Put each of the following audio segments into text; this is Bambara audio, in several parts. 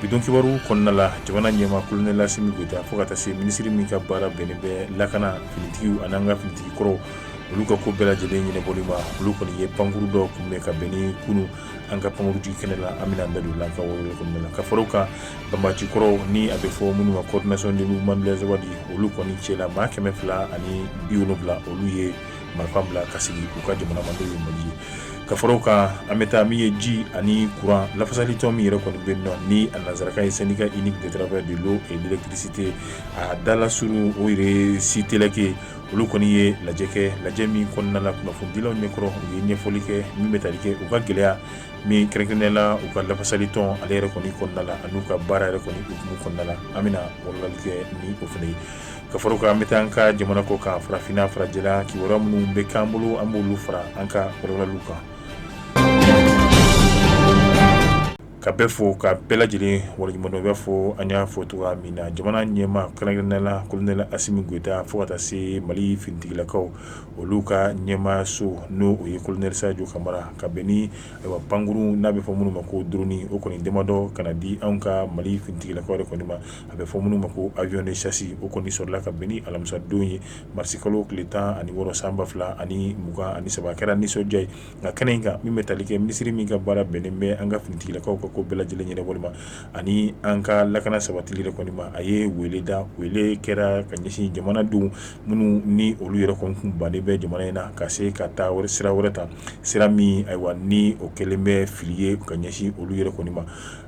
bi don kibaru kɔnɔna la jamana ɲɛmaa kolonɛl Asimi Goyita fo ka taa se minisiri min ka baara bɛnnen bɛ lakana finitigiw an'an ka finitigi kɔrɔw olu ka ko bɛɛ lajɛlen ɲɛnɛbɔli ma olu kɔni ye pankuru dɔ kunbɛn ka bɛn ni kunu an ka pankurujigi kɛnɛ la an bɛna an da don la ka wɔrɔ kɔnɔna la ka fara o kan banbaci kɔrɔw ni a bɛ fɔ minnu ma coordination des mouvements de l'Azawad olu kɔni cɛla maa kɛmɛ fila ani bi wolonwula olu ye marifa bila ka segin u ka jamana ma n'o ye Mali ye ka fara o kan an bɛ taa min ye ji ani kuran lafasali tɔn min yɛrɛ kɔni bɛ nɔ ni a nansarakan ye syndicat unique des travailleurs de l'eau et de l'électricité a dalasurun o ye SUTEELEC olu kɔni ye lajɛ kɛ lajɛ min kɔnɔna la kunnafonidilaw ɲɛkɔrɔ u ye ɲɛfɔli kɛ min bɛ tali kɛ u ka gɛlɛya min kɛrɛnkɛrɛnnenya la u ka lafasali tɔn ale yɛrɛ kɔni kɔnɔna la ani n'u ka baara yɛrɛ kɔni hukumu kɔnɔna la an bɛna wɔrɔli kɛ ni o fana ye ka fara o kan an bɛ taa an ka jamana kɔ kan farafinna farajɛla kibaruya minnu bɛ k'an bolo an b'olu fara an ka wɔrɔliw kan ka bɛɛ fo ka bɛɛ lajɛlen waleɲumandɔn b'a fɔ an y'a fɔ cogoya min na jamana ɲɛmaa kɛrɛnkɛrɛnnenya la kolonɛl Asimi Goyita fo ka taa se Mali finitigilakaw olu ka ɲɛmaayaso n'o o ye kolonɛli Sajo Kamara ka bɛn ni ayiwa pankurun n'a bɛ fɔ minnu ma ko drone o kɔni damadɔ ka na di anw ka Mali finitigilakaw yɛrɛ kɔni ma a bɛ fɔ minnu ma ko avion de chasse o kɔni sɔrɔla ka bɛn ni alamisadon ye marisi kalo tile tan ani wɔɔrɔ san ba fila ani mugan ani saba kɛra nisɔndiya ye nka kɛnɛ in kan min bɛ tali kɛ minisiri min ka baara bɛnnen bɛ an ka finitigilakaw ka ko bɛɛ lajɛlen ɲɛnɛbɔli ma ani an ka lakana sabatili yɛrɛ kɔni ma a ye weele da weele kɛra ka ɲɛsin jamanaden minnu ni olu yɛrɛ kɔni kun bannen bɛ jamana in na ka se ka taa sira wɛrɛ ta sira min ayiwa ni o kɛlen bɛ fili ye ka ɲɛsin olu yɛrɛ kɔni ma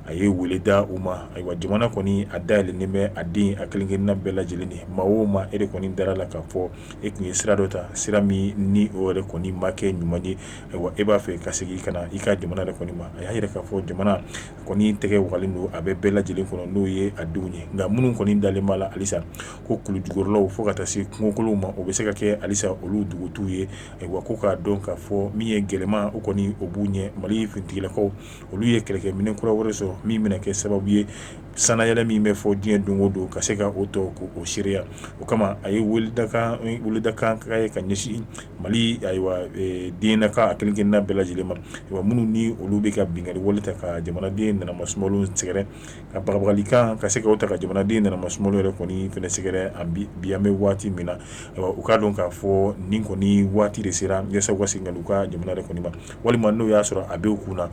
a ye weele da u ma ayiwa jamana kɔni a dayɛlɛlen bɛ a den a kelen-kelenna bɛɛ lajɛlen ye maa o maa e de kɔni dara la k'a fɔ e kun ye sira dɔ ta sira min ni o yɛrɛ kɔni ma kɛ ɲuman ye ayiwa e b'a fɛ ka segin ka na i ka jamana yɛrɛ kɔni ma a y'a yira k'a fɔ jamana kɔni tɛgɛ wagalen don a bɛ bɛɛ lajɛlen kɔnɔ n'o ye a denw ye nka minnu kɔni dalen b'a la halisa ko kulujukɔrɔlaw fo ka taa se kungokolonw ma o bɛ se ka kɛ halisa olu dugutu ye ayiwa ko k'a dɔn k'a fɔ min ye gɛlɛman o kɔni o b'u ɲɛ Mali finitigilakaw olu ye kɛlɛkɛminɛn kura wɛrɛ sɔrɔ min bɛna kɛ sababu ye sannayɛlɛn min bɛ fɔ diɲɛ don o don ka se ka o tɔ ko o seereya o kama a ye weledakan ka ye ka ɲɛsin Mali ayiwa dennaka a kelen-kelenna bɛɛ lajɛlen ma ayiwa minnu ni olu bɛ ka binkanni wale ta ka jamanaden nanamasumalo sɛgɛrɛ a bagabagalikan ka se ka o ta ka jamanaden nanamasumalo yɛrɛ kɔni fɛnɛ sɛgɛrɛ bi an bɛ waati min na u k'a dɔn k'a fɔ nin kɔni waati de sera yasa u ka segin u ka jamana yɛrɛ kɔni ma walima n'o y'a sɔrɔ a b'u kun na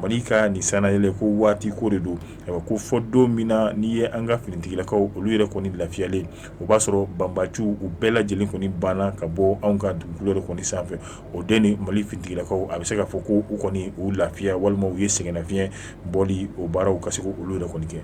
Mali ka nin sannayɛlɛn ko waati ko de don ayiwa ko fo don min na n'i ye an ka finitigilakaw olu yɛrɛ kɔni lafiyalen o b'a sɔrɔ banbaciw u bɛɛ lajɛlen kɔni banna ka bɔ anw ka dugukolo yɛrɛ kɔni sanfɛ o den ni mali finitigilakaw a bɛ se k'a fɔ ko u kɔni u lafiya walima u ye sɛgɛnnafiɲɛbɔ o baaraw ka se olu yɛrɛ kɔni kɛ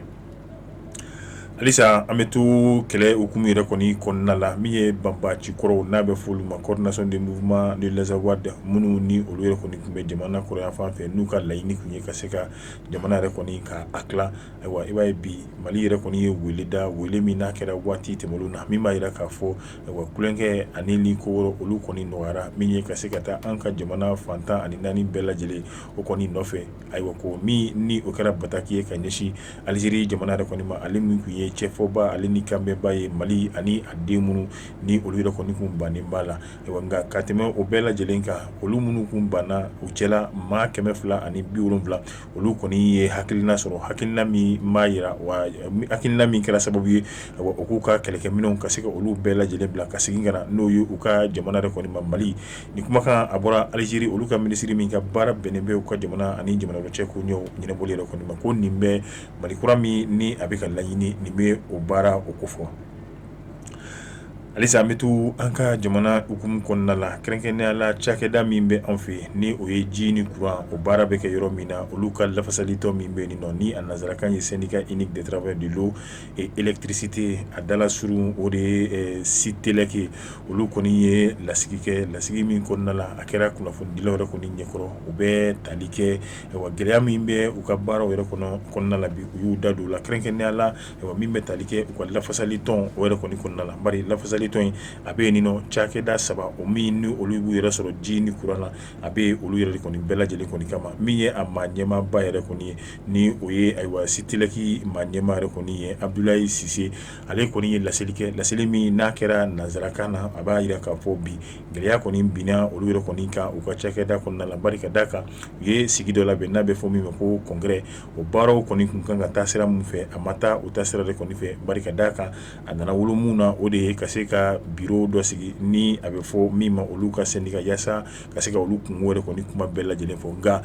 halisa an bɛ to kɛlɛ hukumu yɛrɛ kɔni kɔnɔna la min ye banbaanci kɔrɔw n'a bɛ fɔ olu ma coordination des mouvements de l'Azawad minnu ni olu yɛrɛ kɔni tun bɛ jamana kɔrɔn yanfan fɛ n'u ka laɲini tun ye ka se ka jamana yɛrɛ kɔni ka a tila ayiwa i b'a ye bi mali yɛrɛ kɔni ye weele da weele min n'a kɛra waati tɛmɛnnen na min b'a jira k'a fɔ wa kukɛ ani ni ko wɛrɛ olu kɔni nɔgɔyara min ye ka se ka taa an ka jamana fan tan ani naani bɛɛ lajɛlen o kɔni nɔfɛ ayiwa ko min ni o kɛra bataki ye ka ɲɛsin aliziri jamana yɛrɛ kɔni ma ale min tun ye cɛfɔbaa ale ni kanbɛnbaa ye mali ani a den minnu ni olu yɛrɛ kɔni kun bannen b'a la nka ka tɛmɛ o bɛɛ lajɛlen kan olu minnu kun banna u cɛla maa kɛmɛ fila ani bi wolonwula olu kɔni ye hakilina sɔrɔ hakilina min b'a jira wa hakilina min kɛra sababu ye ayiwa u k'u ka kɛlɛkɛminɛnw ka se ka olu bɛɛ lajɛlen bila ka segin ka na n'o ye u ka jamana yɛrɛ kɔni ma mali nin kumakan a bɔra aliziri olu ka minisiri min ka baara bɛnnen bɛ u ka jamana ani jamana wɛrɛ cɛ koɲɛw ɲɛnabɔli yɛrɛ kɔni ma ko nin bɛ mali kura min ni a bɛ ka laɲini nin bɛ o baara o kofɔ halisa an bɛ to an ka jamana hukumu kɔnɔna la kɛrɛnkɛrɛnnenya la cakɛda min bɛ an fɛ ni o ye ji ni kuran o baara bɛ kɛ yɔrɔ min na olu ka lafasali tɔn min bɛ yen nɔ ni a nansarakan ye syndicat unique des travailleurs de l'eau et électricité a dalasurun o de ye Sutelec ye olu kɔni ye lasigi kɛ lasigi min kɔnɔna la a kɛra kunnafonidilaw yɛrɛ kɔni ɲɛkɔrɔ u bɛ tali kɛ gɛlɛya min bɛ u ka baaraw yɛrɛ kɔnɔna la bi u y'u da don o la kɛrɛnkɛrɛnnenya la min bɛ tali kɛ u ka lafasali tɔn o yɛrɛ kɔni kɔnɔna la bari lafasali tɔn in a bɛ nin nɔ cakɛda saba o min ni olu b'u yɛrɛ sɔrɔ ji ni kuran na a bɛ olu yɛrɛ kɔni bɛɛ lajɛlen kɔni kama min ye a maa ɲɛmaaba yɛrɛ kɔni ye ni o ye ayiwa Sutelec maa ɲɛmaa yɛrɛ kɔni ye abudulayi sise ale kɔni ye laseli kɛ laseli min n'a kɛra nansarakan na a b'a jira k'a fɔ bi gɛlɛya kɔni binna olu yɛrɛ kɔni kan u ka cakɛda kɔnɔna la bari ka d'a kan u ye sigi dɔ labɛn n'a bɛ fɔ min ma ko congrès o baaraw kɔni tun kan ka taa sira min fɛ a ma taa u taasira de kɔni fɛ bari ka d'a kan a nana wolo min na o de ye ka se ka biro dɔ sigi ni a bɛ fɔ min ma olu ka syndicat yaasa ka se ka olu kunko yɛrɛ kɔni kuma bɛɛ lajɛlen fɔ nka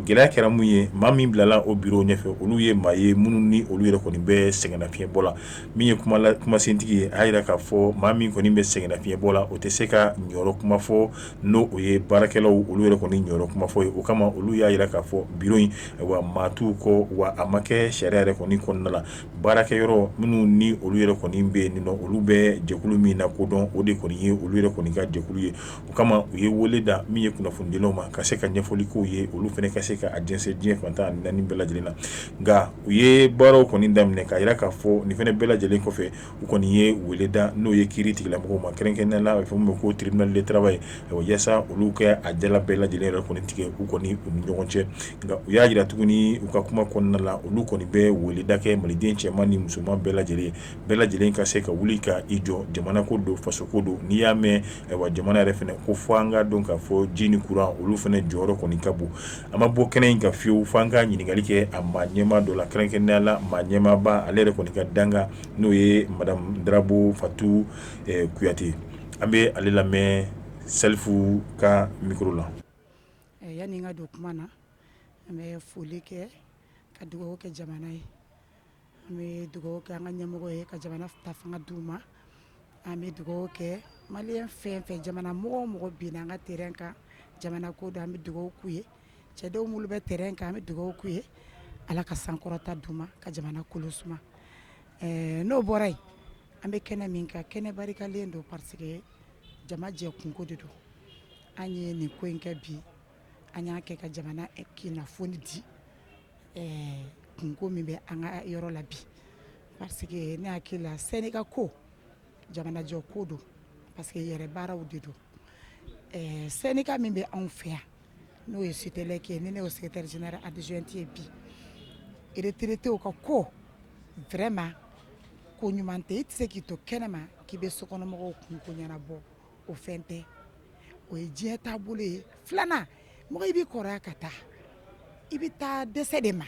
gɛlɛya kɛra min ye maa min bilala o biro ɲɛfɛ olu ye maa ye minnu ni olu yɛrɛ kɔni bɛ sɛgɛnnafiɲɛbɔ la min ye kumasentigi ye a jira k'a fɔ maa min kɔni bɛ sɛgɛnnafiɲɛbɔ la o tɛ se ka ɲɔ kuma fɔ n'o o ye baarakɛlaw olu yɛrɛ kɔni ɲɔ kuma fɔ ye o kama olu y'a jira k'a fɔ biro in wa maa t'u kɔ wa a ma kɛ sariya yɛrɛ kɔni kɔnɔna la baarakɛ yɔrɔ minnu ni olu yɛrɛ kɔni bɛ yen nɔ olu bɛ jɛkulu min lakodɔn o de kɔni ye olu yɛrɛ kɔni ka jɛkulu ye o kama u ye weele da min ye kunnafonidilaw ma ka se ka ɲɛfɔli k'u ye olu fana ka se ka a jɛnsɛn diɲɛ fan tan ni naani bɛɛ lajɛlen na nka u ye baaraw kɔni daminɛ k'a jira k'a fɔ nin fana bɛɛ lajɛlen kɔfɛ u kɔni ye weele da n'o ye kiiri tigɛla mɔgɔw ma kɛrɛnkɛrɛnnenya la a bɛ fɔ min ma ko tribunal de travail yaasa olu k'a jala bɛɛ lajɛlen yɛrɛ kɔni tigɛ u kɔni u ni ɲɔgɔn cɛ nka u y'a jira tuguni u ka kuma kɔnɔna la olu kɔni bɛ weeleda kɛ maliden cɛman ni musoman bɛɛ lajɛlen ye bɛɛ lajɛlen ka se ka wuli ka i jɔ jamana ko don fasoko don n'i y'a mɛn ayiwa jamana yɛrɛ fana ko fo an k'a dɔn k'a fɔ ji ni kuran olu fana jɔyɔrɔ kɔni ka bon an ma bɔ kɛnɛ in kan fiyewu fo an ka ɲininkali kɛ a maa ɲɛmaa dɔ la kɛrɛnkɛrɛnnenya la maa ɲɛmaaba ale yɛrɛ kɔni ka danga n'o ye madame Darabo Fatu Kuyate, an bɛ ale lamɛn Salifu ka micro la yani n ka don kuma na, n bɛ foli kɛ ka dugawu kɛ jamana ye An bɛ dugawu kɛ an ka ɲɛmɔgɔ ye ka jamana ta fanga d'u ma an bɛ dugawu kɛ maliyɛn fɛn fɛn jamana mɔgɔ o mɔgɔ binna an ka terrain kan jamana ko don an bɛ dugawu k'u ye cɛdenw minnu bɛ terrain kan an bɛ dugawu k'u ye ala ka sankɔrɔta d'u ma ka jamana kolo suma n'o bɔra yen an bɛ kɛnɛ min kan kɛnɛ barikalen don parce que jama jɛ kunko de don an ye nin ko in kɛ bi an y'a kɛ ka jamana kunnafoni di kunko min bɛ an ka yɔrɔ la bi parce que ne hakili la syndicat ko jamanajɔ ko don parce que yɛrɛ baaraw de don syndicat min bɛ anw fɛ yan n'o ye Siteleki ye ni ne y'o secrétaire général adjoint ye bi retraités ka ko vraiment ko ɲuman tɛ i tɛ se k'i to kɛnɛma k'i bɛ sokɔnɔmɔgɔw kunko ɲɛnabɔ o fɛn tɛ o ye diɲɛ taabolo ye filanan mɔgɔ i bɛ kɔrɔya ka taa i bɛ taa dɛsɛ de ma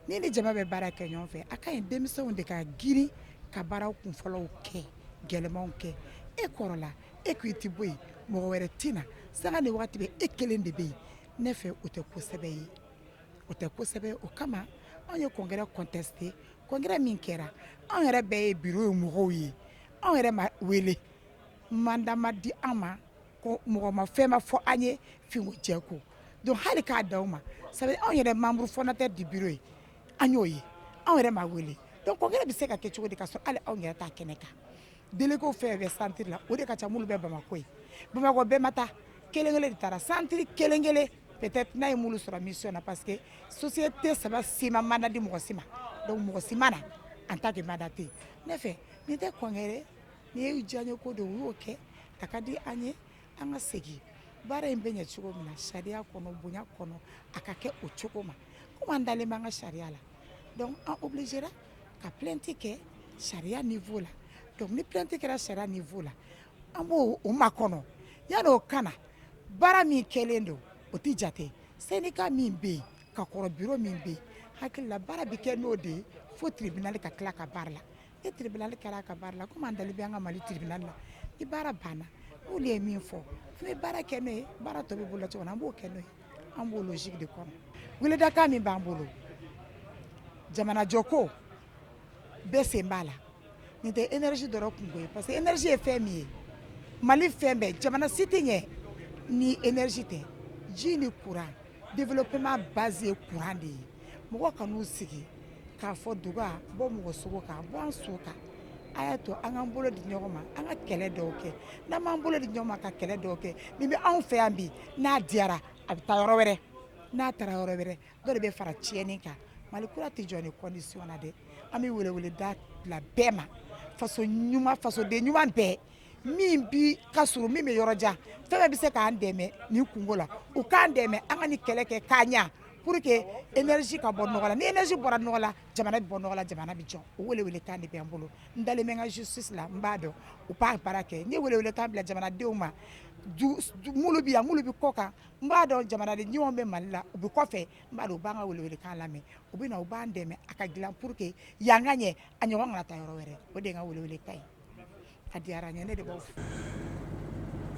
ni ni jama bɛ baara kɛ ɲɔgɔn fɛ a ka ɲi denmisɛnw de ka girin ka baaraw kun fɔlɔw kɛ gɛlɛnmanw kɛ e kɔrɔla e ko i tɛ bɔ yen mɔgɔ wɛrɛ tɛ na sanga ni waati bɛɛ e kelen de bɛ yen ne fɛ o tɛ ko sɛbɛ ye o tɛ ko sɛbɛ ye o kama anw ye congrès contester congrès min kɛra anw yɛrɛ bɛɛ ye bureau in mɔgɔw ye anw yɛrɛ ma wele mandat ma di an ma ko mɔgɔ ma fɛn ma fɔ an ye fin ko jɛ ko donc hali k'a di aw ma ça veut dire anw yɛrɛ membre fondateur du bureau ye an y'o ye anw yɛrɛ ma wele donc congrès bɛ se ka kɛ cogo di ka sɔrɔ anw yɛrɛ t'a kɛnɛ kan délégués fɛn fɛn bɛ centre la o de ka ca minnu bɛ bamakɔ ye bamakɔ bɛɛ ma taa kelenkelen de taara centre kelenkelen peut-être n'a ye minnu sɔrɔ mission na parce que société saba si ma mandat di mɔgɔ si ma mɔgɔ si ma na en tant que mandaté ne fɛ nin tɛ congrès Nin ye diyanye ko don u y'o kɛ a ka di an ye an ka segin baara in bɛ ɲɛ cogo min na sariya kɔnɔ bonya kɔnɔ a ka kɛ o cogo ma komi an dalen bɛ an ka sariya la an obligé ka plainte kɛ sariya niveau la ni plainte kɛra sariya niveau la an b'o makɔnɔ yanni o ka na baara min kɛlen don o tɛ jate syndicat min bɛ yen ka kɔrɔ bureau min bɛ yen hakili la baara bɛ kɛ n'o de ye fo tribunal ka tila ka baara la ni tribunal kɛra a ka baara la komi an dalen b'an ka mali tribunal la ni baara banna n'olu ye min fɔ n bɛ baara kɛ ni baara tɔ bɛ bolo cogo an b'o kɛ n' an b'o logique de kɔnɔ weleda kan min b'an bolo jamanajɔ ko bɛɛ sen b'a la nin tɛ énergie dɔrɔn kunko ye parce que énergie ye fɛn min ye mali fɛn bɛɛ jamana si tɛ ɲɛ ni énergie tɛ ji ni courant Développement base ye courant de ye mɔgɔw kan'u sigi k'a fɔ duga bɔ mɔgɔ sogo kan bɔ an su kan a y'a to an k'an bolo di ɲɔgɔn ma an ka kɛlɛ dɔw kɛ n'an m'an bolo di ɲɔgɔn ma ka kɛlɛ dɔw kɛ min bɛ anw fɛ yan bi n'a diyara a bɛ taa yɔrɔ wɛrɛ n'a taara yɔrɔ wɛrɛ dɔ de bɛ fara tiɲɛni kan Mali kura tɛ jɔ nin condition na dɛ an bɛ weleweleda bila bɛɛ ma fasoden ɲuman bɛɛ min bi ka surun min bɛ yɔrɔ jan fɛn bɛɛ bɛ se k'an dɛmɛ nin kunko la u k'an dɛmɛ an ka nin kɛlɛ kɛ k'a ɲɛ pour que énergie ka bɔ nɔgɔ la ni énergie bɔra nɔgɔ la jamana bɛ bɔ nɔgɔ la jamana bɛ jɔ o welewelekan de bɛ n bolo n dalen bɛ n ka justice la n b'a dɔn u b'a baara kɛ n ye welewelekan bila jamanadenw ma minnu bɛ yan minnu bɛ kɔ kan n b'a dɔn jamanaden ɲumanw bɛ Mali la u bɛ kɔfɛ n b'a dɔn u b'an ka welewelekan lamɛn u bɛ na u b'an dɛmɛ a ka dilan pour que yan ka ɲɛ a ɲɔgɔn kana taa yɔrɔ wɛrɛ o de ye n ka welewelekan ye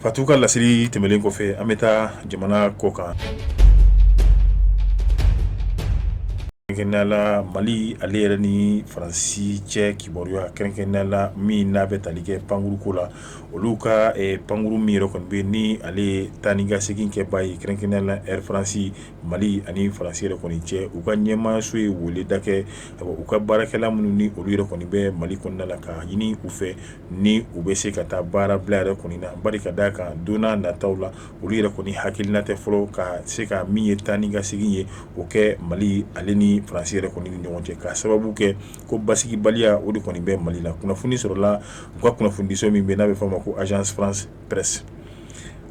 fatu ka laseli tɛmɛnen kɔfɛ an bɛ taa jamana kɔ kan kɛrɛnkɛrɛnnenya la mali ale yɛrɛ ni faransi cɛ kibaruya kɛrɛnkɛrɛnnenya la min n'a bɛ tali kɛ pankurun ko la olu ka pankurun min yɛrɛ kɔni bɛ ni ale ye taa ni ka segin kɛba ye kɛrɛnkɛrɛnnenya la Air France Mali ani faransi yɛrɛ kɔni cɛ u ka ɲɛmaaso ye weleda kɛ u ka baarakɛla minnu ni olu yɛrɛ kɔni bɛ mali kɔnɔna la ka ɲini u fɛ ni u bɛ se ka taa baara bila yɛrɛ kɔni na bari ka da a kan don nataw la olu yɛrɛ kɔni hakilina tɛ fɔlɔ ka se ka min ye taa ni ka segin ye o kɛ mali ale ni faransi yɛrɛ kɔni ɲɔgɔn cɛ k'a sababu kɛ ko basigibaliya o de kɔni bɛ mali la kunnafoni sɔrɔla u ka kunnafonidiso min bɛ n'a bɛ f'a ma ko Agence France Presse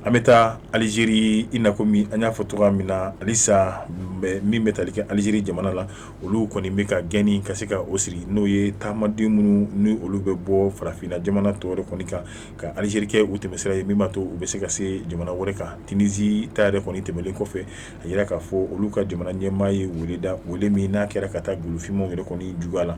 an bɛ taa aliziri i na komi an y'a fɔ cogo min na halisa min bɛ tali kɛ aliziri jamana la olu kɔni bɛ ka gɛnni ka se ka o siri n'o ye taamaden minnu ni olu bɛ bɔ farafinna jamana tɔw yɛrɛ kɔni kan ka aliziri kɛ u tɛmɛsira ye min b'a to u bɛ se ka se jamana wɛrɛ kan tinizi ta yɛrɛ kɔni tɛmɛnen kɔfɛ a yira k'a fɔ olu ka jamana ɲɛmaa ye weleda wele min n'a kɛra ka taa golofinmanw yɛrɛ kɔni juguya la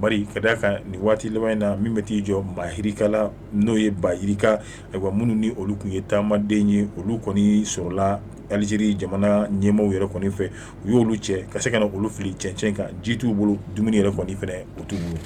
bari ka d'a kan nin waati laban in na min bɛ t'i jɔ maa yirika la n'o ye ba yirika ayiwa minnu ni olu tun ye taamaden ye olu kɔni sɔrɔla alizeri jamana ɲɛmaaw yɛrɛ kɔni fɛ u y'olu cɛ ka se ka na olu fili cɛncɛn kan ji t'u bolo dumuni yɛrɛ kɔni fɛnɛ o t'u bolo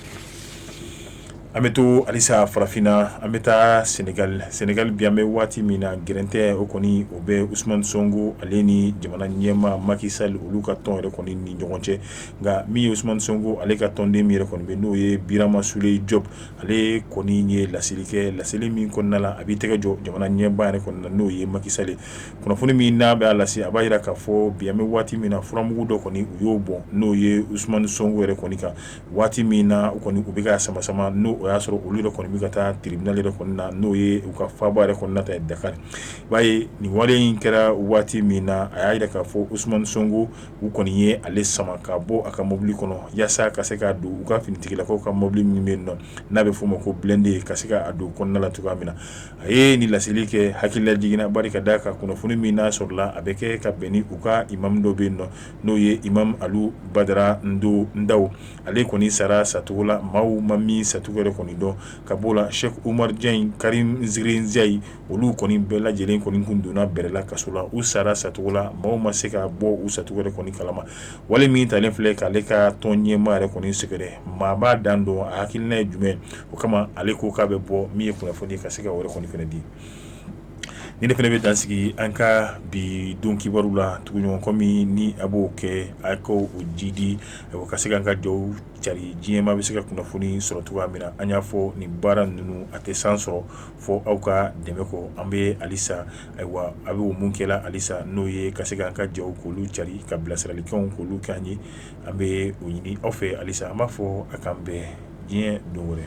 an bɛ to alisa farafinna an bɛ taa sɛnɛgali bi an bɛ waati min na gɛrɛntɛ o kɔni o bɛ usumani sɔnko ale ni jamana ɲɛmaa maki sali olu ka tɔn yɛrɛ kɔni ni ɲɔgɔn cɛ nka min ye usumani sɔnko ale ka tɔnden min yɛrɛ kɔni n'o ye birama sulɛyi jɔpu ale kɔni ye laseli kɛ laseli min kɔnɔna la a b'i tɛgɛ jɔ jamana ɲɛmaa yɛrɛ kɔni na n'o ye maki sali kunnafoni min n'a b'a lase a b'a jira k'a fɔ bi an bɛ waati min na furamugu dɔ kɔni u y'o bɔn n'o ye usumani sɔnko yɛrɛ kɔni kan waati min na u kɔni u bɛ k'a sama sama n'o y'a sɔrɔ olu yɛrɛ kɔni bɛ ka taa tiribinali yɛrɛ kɔni na n'o ye u ka faaba yɛrɛ kɔni na ta dakari i b'a ye nin wale in kɛra waati min na a y'a jira k'a fɔ usumani sɔnko u kɔni ye ale sama ka bɔ a ka mobili kɔnɔ yaasa ka se k'a don u ka finitigilakaw ka mobili min bɛ yen nɔ n'a bɛ f'o ma ko bilɛnde ye ka se k'a don kɔnɔna la cogoya min na a ye nin laseli kɛ hakililajigin na bari ka d'a kan kunnafoni min n'a sɔrɔla a bɛ kɛ ka bɛn ni u ka imamu dɔ bɛ yen nɔ n'o ye imamu alu badara ndo ndaw ale kɔni sara sacogo la maaw ma min sacogo yɛrɛ kɔni dɔn ka b'o la sɛki umaru jaɲi karimu zirinzayi olu kɔni bɛɛ lajɛlen kɔni kun donna bɛrɛ la kaso la u sara sacogo la maaw ma se ka bɔ u sacogo yɛrɛ kɔni kalama wale min talen filɛ k'ale ka tɔn ɲɛmaa yɛrɛ kɔni sɛgɛrɛ maa b'a dan dɔn a hakilina ye jumɛn o kama ale ko k'a bɛ bɔ min ye kunnafoni ka se ka wɛrɛ kɔni fɛnɛ di ni ne fɛnɛ bɛ dan sigi an ka bi don kibaru la tuguɲɔgɔn kɔ min ni a b'o kɛ a k'o jidi ka se k'an ka jaw cari diɲɛ maa bɛ se ka kunnafoni sɔrɔ cogoya min na an y'a fɔ nin baara ninnu a tɛ san sɔrɔ fɔ aw ka dɛmɛ kɔ an bɛ alisa ayiwa a bɛ o min kɛ la alisa n'o ye ka se k'an ka jaw k'olu cari ka bilasiralikanw k'olu k'an ye an bɛ o ɲini aw fɛ alisa an b'a fɔ a k'an bɛn diɲɛ don wɛrɛ